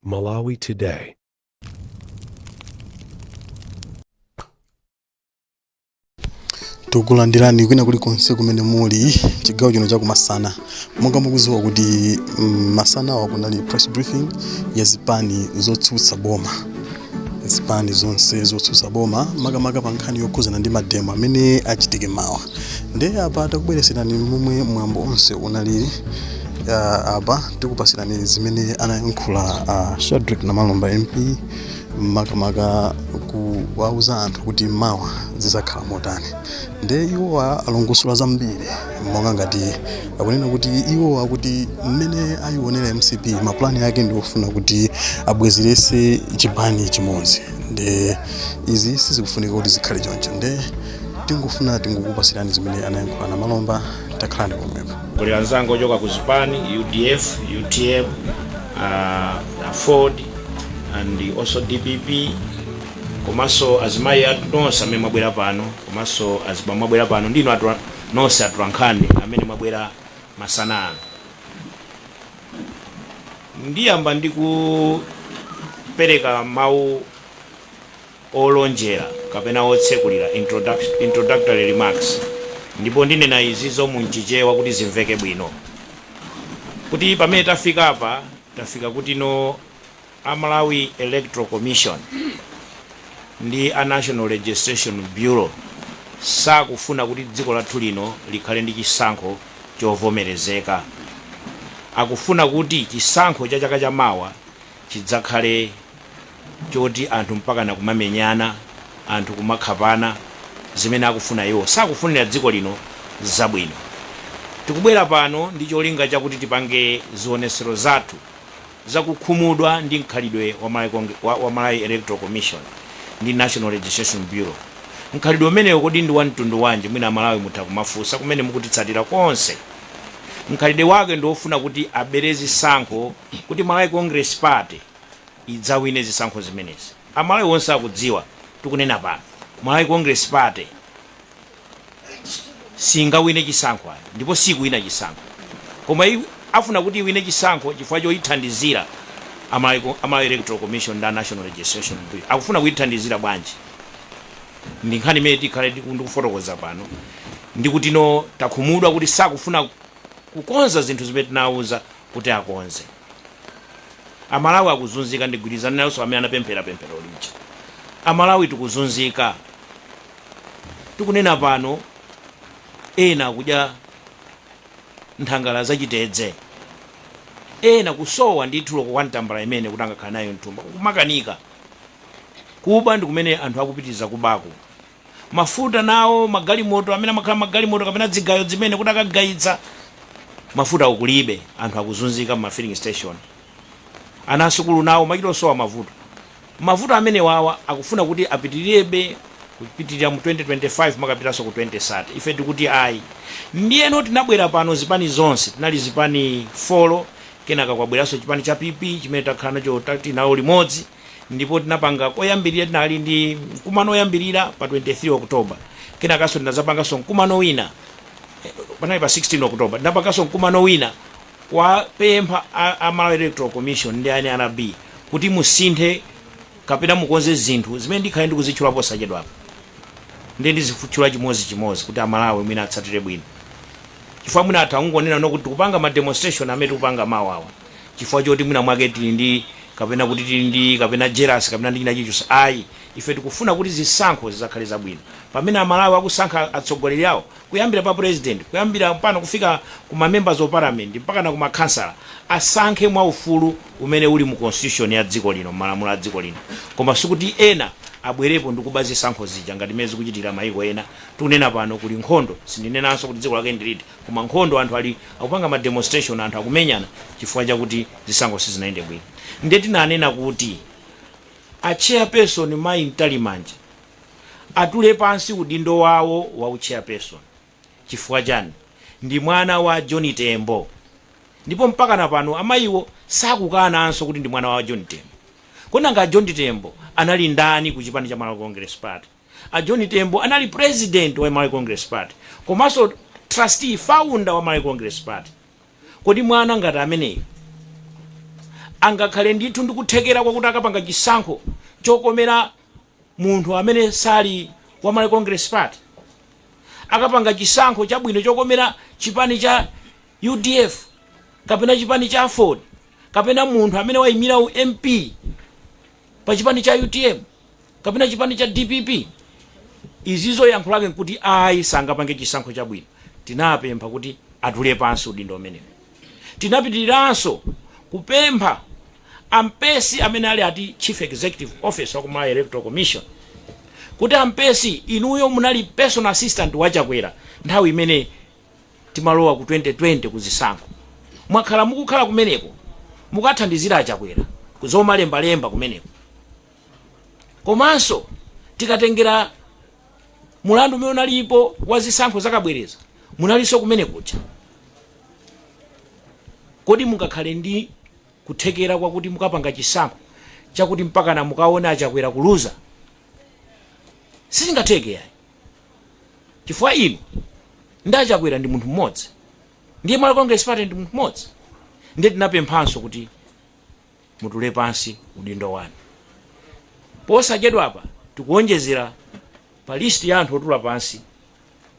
Malawi Today. tikulandireni kwina kuli konse kumene muli chigawo chino chakumasana monga mukuziwa kuti mm, masana awa kunali press briefing ya zipani zotsutsa boma zipani zonse zotsutsa boma makamaka pa nkhani yokhuzana ndi mademo amene achitike mawa ndiye apa takubwereserani momwe mwambo onse unalili uh, apa tikupasirani zimene anayankhula uh, shadrick namalomba mp makamaka kuwauza anthu kuti mawa zizakhala motani ndiye iwo alongosola zambiri monga ngati akunena kuti iwo akuti mmene ayionera mcp mapulani ake ndi ofuna kuti abwezerese chipani chimodzi nde izi sizikufunika kuti zikhale choncho nde tingofuna tingokupasirani zimene anayankhula namalomba takhalani pomwepo kuli anzanga ochoka ku zipani udf utm uh, aford and also dpp komanso azimayi athu nonse amene mwabwera pano komanso azibambo mwabwera pano ndinu atu- nonse atolankhani amene mwabwera masana ano. Ndiyamba ndi kupereka mawu olonjera kapena otsekulira introduc- introductory remarks ndipo ndinena izizo mu chichewa kuti zimveke bwino kuti pamene tafika apa tafika kuti no a Malawi Electoral Commission ndi a National Registration Bureau sakufuna kuti dziko lathu lino likhale ndi chisankho chovomerezeka. Akufuna kuti chisankho cha chaka cha mawa chidzakhale choti anthu mpakana kumamenyana, anthu kumakhapana zimene akufuna iwo. Sakufunira dziko lino zabwino. Tikubwera pano ndi cholinga chakuti tipange zionetsero zathu za kukhumudwa ndi mkhalidwe wa Malawi Cong wa wa Malawi Electoral Commission ndi National Registration Bureau. Mkhalidwe umenewo kodi ndi wa mtundu wanji mwina Amalawi mutha kumafunsa kumene mukutitsatira konse. Mkhalidwe wake ndi wofuna kuti abere zisankho kuti Malawi Congress Party idzawine zisankho zimenezi. Amalawi onse akudziwa tikunena pano, Malawi Congress Party. singawine chisankho ayi ndipo sikuwina chisankho koma i- afuna kuti iwine chisankho chifukwa choyithandizira a Malawi Co- a Malawi electoral commission ndi a national registration Bureau. akufuna kuyithandizira bwanji ndi nkhani imene tikhale tiku- ndikufotokoza pano ndi kuti no takhumudwa kuti sakufuna kukonza zinthu zimene tinawauza kuti akonze amalawi akuzunzika ndigwirizana nayenso amene anapemphera pemphero lija amalawi tikuzunzika tikunena pano, ena akudya nthangala za chitedze, ena kusowa ndithu loko kwa tambala imene kuti angakhale nayo mthumba, kumakanika. Kuba ndi kumene anthu akupitiriza kubaku. Mafuta nawo, magalimoto amene amakhala magalimoto kapena zigayo zimene kuti akagayitsa, mafuta kulibe, anthu akuzunzika m'ma filling station. Ana asukulu nawo kumachita osowa mavuto. Mavuto amenewawa akufuna kuti apitilirebe kupitilira mu 2025 kumakapitanso ku 2030. Ife tikuti ayi. Ndiyeno tinabwera pano zipani zonse, tinali zipani folo, kenaka kwabweranso chipani cha PP chimene takhala nacho tinawo limodzi ndipo tinapanga koyambilira tinali ndi mkumano oyambilira pa 23 October kenakanso tinazapanganso mkumano wina panali pa 16 October tinapanganso mkumano wina kuwapempha a Malawi Electoral Commission ndi a nrb kuti musinthe kapena mukonze zinthu zimene ndikhale ndikuzitchula posachedwapa, ndiye ndizitchula chimodzichimodzi kuti a Malawi mwina atsatire bwino. Chifukwa mwina atha kungonena no kuti tikupanga ma demonstration amene tikupanga mawa awa chifukwa choti mwina mwake tili ndi kapena kuti tili ndi kapena jealous kapena ndi china chilichonse ayi. Ife tikufuna kuti zisankho zidzakhale zabwino pamene a Malawi akusankha atsogoleri awo. kuyambira pa president kuyambira pano kufika ku ma members of parliament mpakana ku ma khansala asankhe mwa ufulu umene uli mu constitution ya dziko lino mmalamulo a dziko lino koma sikuti ena abwerepo ndi kuba zisankho zija ngati mmene zikuchitikira mayiko ena tikunena pano kuli nkhondo sindinenanso kuti dziko lake ndi liti koma nkhondo anthu ali akupanga ma demonstration anthu akumenyana chifukwa chakuti zisankho sizinayende bwino ndiye tinanena kuti a chairperson mayi mtalimanja atule pansi udindo wawo wa u chairperson chifukwa chani? Ndi mwana wa John Tembo ndipo mpakana pano amayiwo sakukananso kuti ndi mwana wa John Tembo. Kodi nanga a John Tembo anali ndani ku chipani cha Malawi Congress Party? A John Tembo anali president wa Malawi Congress Party komanso trustee, founder wa Malawi Congress Party. Kodi mwana ngati ameneyo angakhale ndithu ndi kuthekera kwakuti akapanga chisankho chokomera Munthu amene sali wa Malawi Congress Party akapanga chisankho chabwino chokomera chipani cha udf kapena chipani cha aford kapena munthu amene waimira u MP pa chipani cha utm kapena chipani cha dpp izizo yankho lake nkuti ayi sangapange chisankho chabwino. Tinapempha kuti atule pansi udindo umenewo. Tinapitiriranso kupempha. a Mpesi amene ali ati Chief Executive Officer wa ku Malawi Electoral Commission kuti a Mpesi inuyo munali personal assistant wa Chakwera nthawi imene timalowa ku 2020 ku zisankho. Mwakhala mukukhala kumeneko mukathandizira a Chakwera ku zomalembalemba kumeneko. Komanso tikatengera mulandu umene unalipo wa zisankho zachibwereza munalinso kumene kuja. Kodi mungakhale ndi kuthekera kwakuti mukapanga chisankho chakuti mpakana mukaone achakwera kuluza sizingatheke yayi chifukwa inu ndi achakwera ndi munthu mmodzi ndiye malawi congress party ndi munthu mmodzi ndiye tinapemphanso kuti mutule pansi udindo wanu posachedwapa tikuonjezera pa list ya anthu otula pansi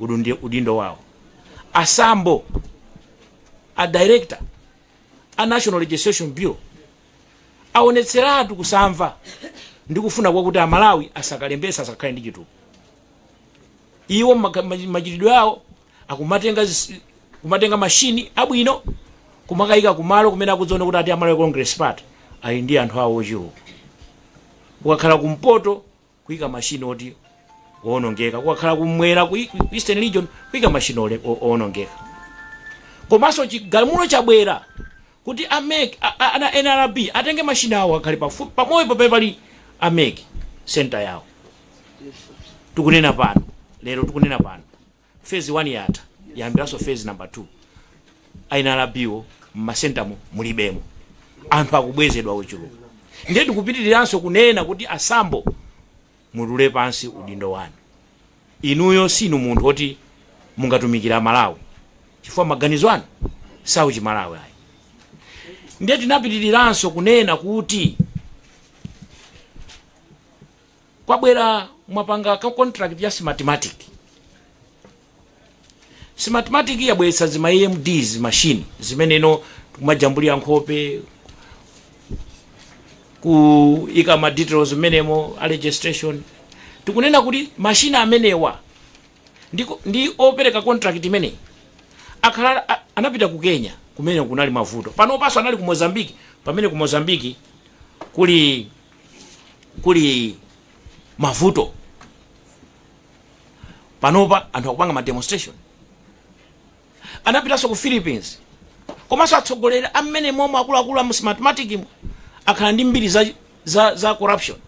udundi- udindo wawo asambo a director a national registration bureau aonetseratu kusamva ndi kufuna kwakuti amalawi asakalembetse asakhale ndi chitupa iwo maka- machi- machitidwe awo akumatenga zis- kumatenga mashini abwino kumakayika kumalo kumene akudziona kuti ati amalawi congress party ali ndi anthu awo ochuluka ukakhala kumpoto kuika machine oti owonongeka kukakhala kumwera ku ku eastern region kuika machine ole- o- owonongeka komanso chigamulo chabwera kuti amec a- a- ana nrb atenge machine awo akhale pafupi pamalo pamene pali amec center yawo tukunena pano lero tukunena pano Phase 1 yatha yayambiranso phase number 2. A nrb wo mmasentamo mulibemo. Anthu akubwezedwa ochuluka. Ndiye tikupitiriranso kunena kuti a Sambo mutule pansi udindo wanu. Inuyo siinu munthu woti mungatumikire a Malawi chifukwa maganizo anu siauchi Malawi ayi. Ndiye tinapitiriranso kunena kuti. kwabwera mwapanga ka contract ya smartmatic smartmatic yabweretsa zima emds machine zimenezo kumajambulira nkhope kuika ma details mmenemo a registration tikunena kuti mashini amenewa ndi, ndi opereka contract imeneyi akhala a- anapita ku kenya kumene kunali mavuto panopanso anali ku mozambiki pamene ku mozambiki kuli kuli mavuto panopa anthu akupanga ma demonstration anapitanso ku philippines komanso atsogoleri amene momwe akuluakulu amu smartmatic mu akhala ndi mbiri za, za, za corruption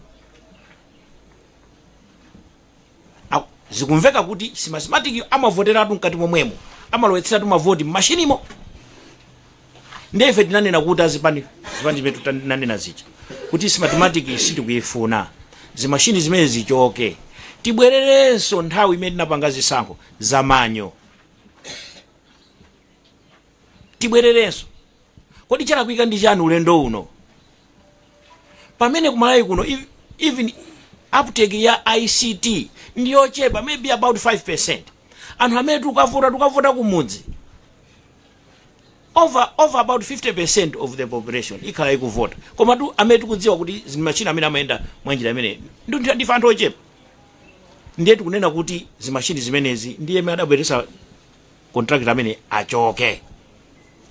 Zikumveka kuti smartmatic amavoteratu mkati momwemo amalowetseratu mavoti mmashinimo ndiye ife tinanena kuti azipani zipani zimene tinanena zija kuti smartmatic sitikuyifuna zimashini zimene zichoke tibwererenso nthawi imene tinapanga zisankho za manual tibwererenso kodi chalakwika ndi chani ulendo uno pamene kumalawi kuno ev- even uptake ya ict ndi yochepa maybe about 5% anthu amene tikavota tukavota kumudzi over over about 50% of the population ikhala ikuvota koma anthu amene tikudziwa kuti zimachina zimene amayenda mwanjira imene ndi ndi- ndife anthu ochepa ndiye tikunena kuti zimashini zimenezi ndiye amene adabweretsa contractor amene achoke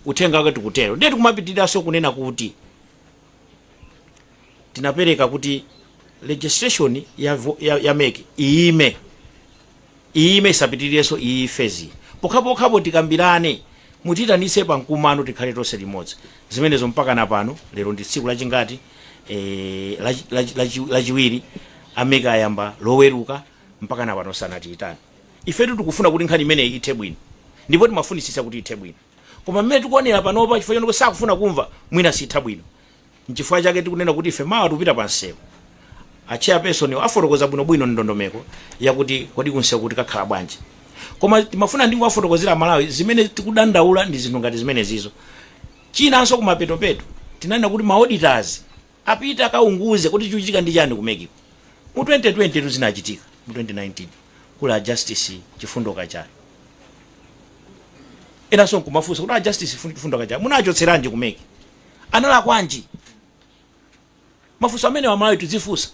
uthenga wake tikutero ndiye tikumapitiriranso kunena kuti tinapereka kuti registration ya, vo- ya, ya mec iime iime isapitirirenso iyi phase pokhapokhapo tikambirane mutiitanitse pa mkumano tikhale tonse limodzi zimenezo mpaka na pano lero ndi tsiku lachingati eh, lachi- lachi- lachi- lachiwiri a mec ayamba loweruka mpaka na pano sanatiyitane Ifetu tikufuna kuti nkhani imeneyi ithe bwino ndipo timafunitsitsa kuti ithe bwino. Koma mmene tikuonera panopa chifukwa choti sakufuna kumva, mwina sitha bwino. N'chifukwa chake tikunena kuti ife mawa tikupita pamsewu. A chairperson'wo afotokoza bwinobwino ndondomeko yakuti kodi kumsewuko tikakhala bwanji. Koma timafuna tingowafotokozera Amalawi zimene tikudandaula ndi zinthu ngati zimenezizo. Chinanso kumapetopeto tinanena kuti ma auditors. Apite akaunguze kuti chikuchitika ndi chani ku mec-ko mu 2020 tu zinachitika mu 2019 kuli a justice chifundo kachali enanso nkumafunsa kuti a justice chifundo kachali munawachotseranji ku mec analakwanji mafunso amenewa amalawi tidzifunsa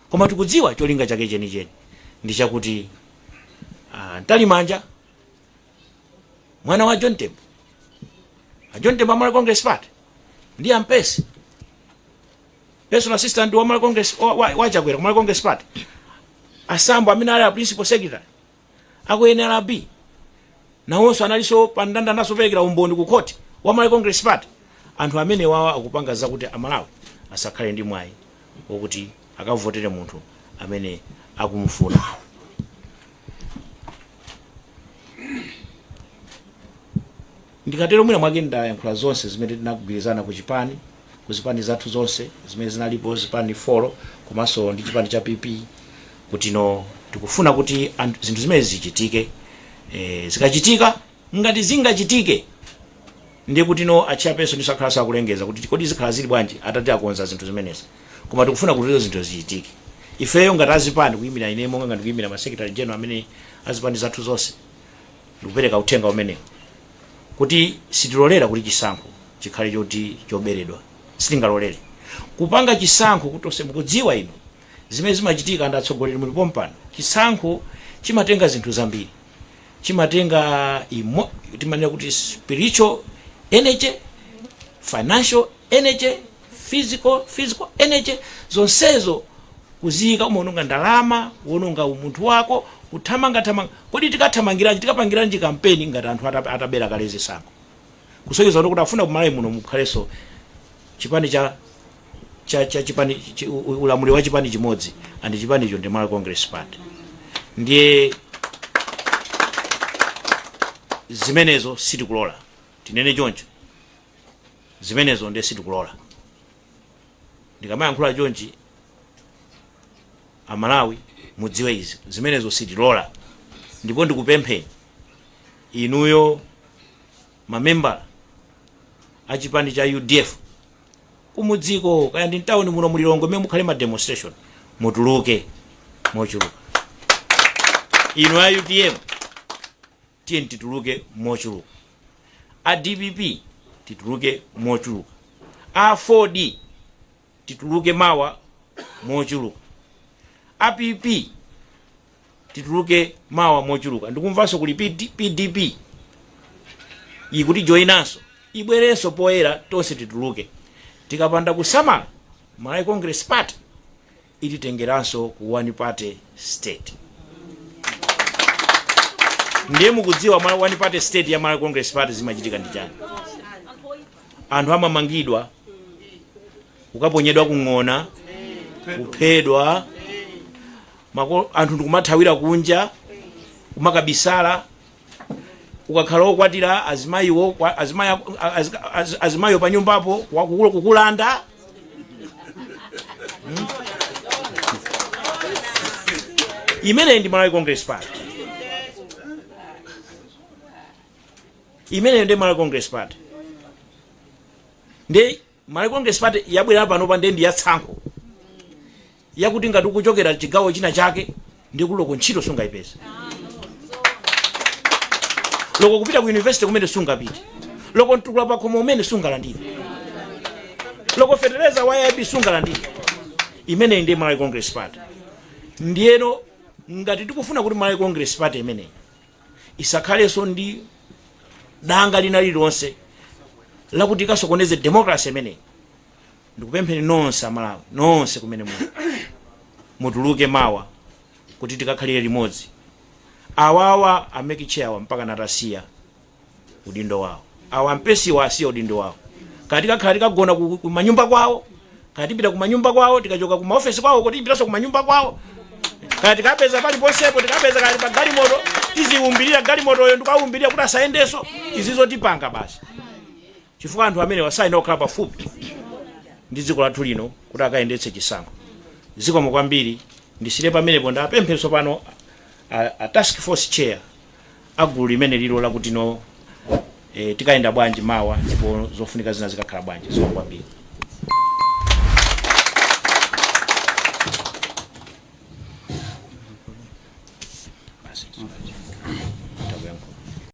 koma tikudziwa cholinga chake chenicheni ndi chakuti ah, mtalimanja mwana wa john tembo a john tembo a malawi congress party ndi a mpesi personal assistant wa malawi congress wa- wa- wa chakwera ku malawi congress party a sambo amene ali a principal secretary aku nrb nawonso analinso pa ndandanda naso perekera umboni ku khoti wa malawi congress party anthu amenewawa akupanga zakuti amalawi asakhale ndi mwayi wokuti akavotere munthu amene akumufuna ndikatero mwina mwake ndayankhula zonse zimene tinagwirizana ku chipani ku zipani zathu zonse zimene zinalipo zipani folo komanso ndi chipani cha pp kutino tikufuna kuti zinthu zimene zichitike e, zikachitika ngati zingachitike ndiye kutino a chairperson ndinso akhalanso akulengeza kuti kodi zikhala zili bwanji atati akonza zinthu zimenezi koma tikufuna kuti zinthu zichitike ifeyo ngati azipani kuyimira ine monga ngati kuyimira ma secretary general amene azipani zathu zonse ndikupereka uthenga umenewu kuti sitilolera kuti chisankho chikhale choti choberedwa sitingalolere kupanga chisankho kuti onse mukudziwa inu zimene zimachitika ndi atsogoleri muli pompano chisankho chimatenga zinthu zambiri chimatenga imo timanena kuti spiritual energy financial energy physical energy zonsezo kuziyika umaononga ndalama kuononga umunthu wako kuthamangathamanga kodi tikathamangiranji tikapangiranji kampeni ngati anthu ata- atabera kale zisankho kusonyeza kuti kuti afuna kumalawi muno mukhalenso chipani cha cha, cha chipani chi, u- u- ulamuliro wa chipani chimodzi and chipanicho ndi malawi congress party ndiye zimenezo sitikulola tinene choncho Zimenezo ndiye sitikulora. Ndikamayankhula chonchi amalawi mudziwe izi zimenezo sitilora ndipo ndikupempheni inuyo ma membala achipani cha udf kumudziko kaya ndi mtawuni muno mulilongo mmene mukhale ma demonstration mutuluke mochuluka inu a utm tiyeni tituluke mochuluka a dpp tituluke mochuluka a aford tituluke mawa mochuluka a pp tituluke mawa mochuluka ndikumvanso kuli pdp ikutijoyinanso ibwerenso poyera tonse tituluke tikapanda kusamala malawi congress party ititengeranso ku one party state ndiye mukudziwa mwa one party state ya Malawi Congress Party zimachitika ndi chani anthu amamangidwa kukaponyedwa kung'ona kuphedwa anthu ndikumathawira kunja kumakabisala ukakhala okwatira azimayiwo kwa- azimayi ako- a- azi- azi- azimayiwo pa nyumbapo wakukula- kukulanda Mm. imeneyi ndi malawi congress party imeneyo ndi malawi congress party ndi Malawi Congress Party yabwera panopa ndiye ndi ya tsankho yakuti ngati ukuchokera chigawo china chake ndiye kuti loko ntchito sungayipeze loko kupita ku university kumene sungapite loko mtukula pakhomo kumene sungalandire loko fetereza wa aip sungalandire imeneyi ndiye malawi congress party ndiyeno ngati tikufuna kuti malawi congress party imeneyi isakhalenso ndi danga lina lililonse lakuti ikasokoneze democracy imeneyi ndikupempheni nonse amalawi nonse kumene mutuluke mawa kuti tikakhalire limodzi awawa aMEC Chair awa mpaka natasiya udindo wawo awa a Mpesiwa asiya udindo wawo kaya tikakhala tikagona kumanyumba kwawo kaya tipita kumanyumba kwawo tikachoka kumaofesi kwawo kuti tipitanso kumanyumba kwawo kaya tikapeza paliponsepo tikapeza kaya ali pa galimoto tiziwumbirira galimotoyo ndikuyiwumbirira kuti asayendenso izi ndizo tipanga basi chifukwa anthu amenewa sayenera kukhala pafupi ndi dziko lathu lino kuti akayendetse chisankho. Zikomo kwambiri, ndisiyire pamenepo. Ndipemphe tsopano a task force chair a gulu limeneli lo lakuti no, tikayenda bwanji mawa ndipo zofunika zina zikakhala bwanji. Zikomo kwambiri.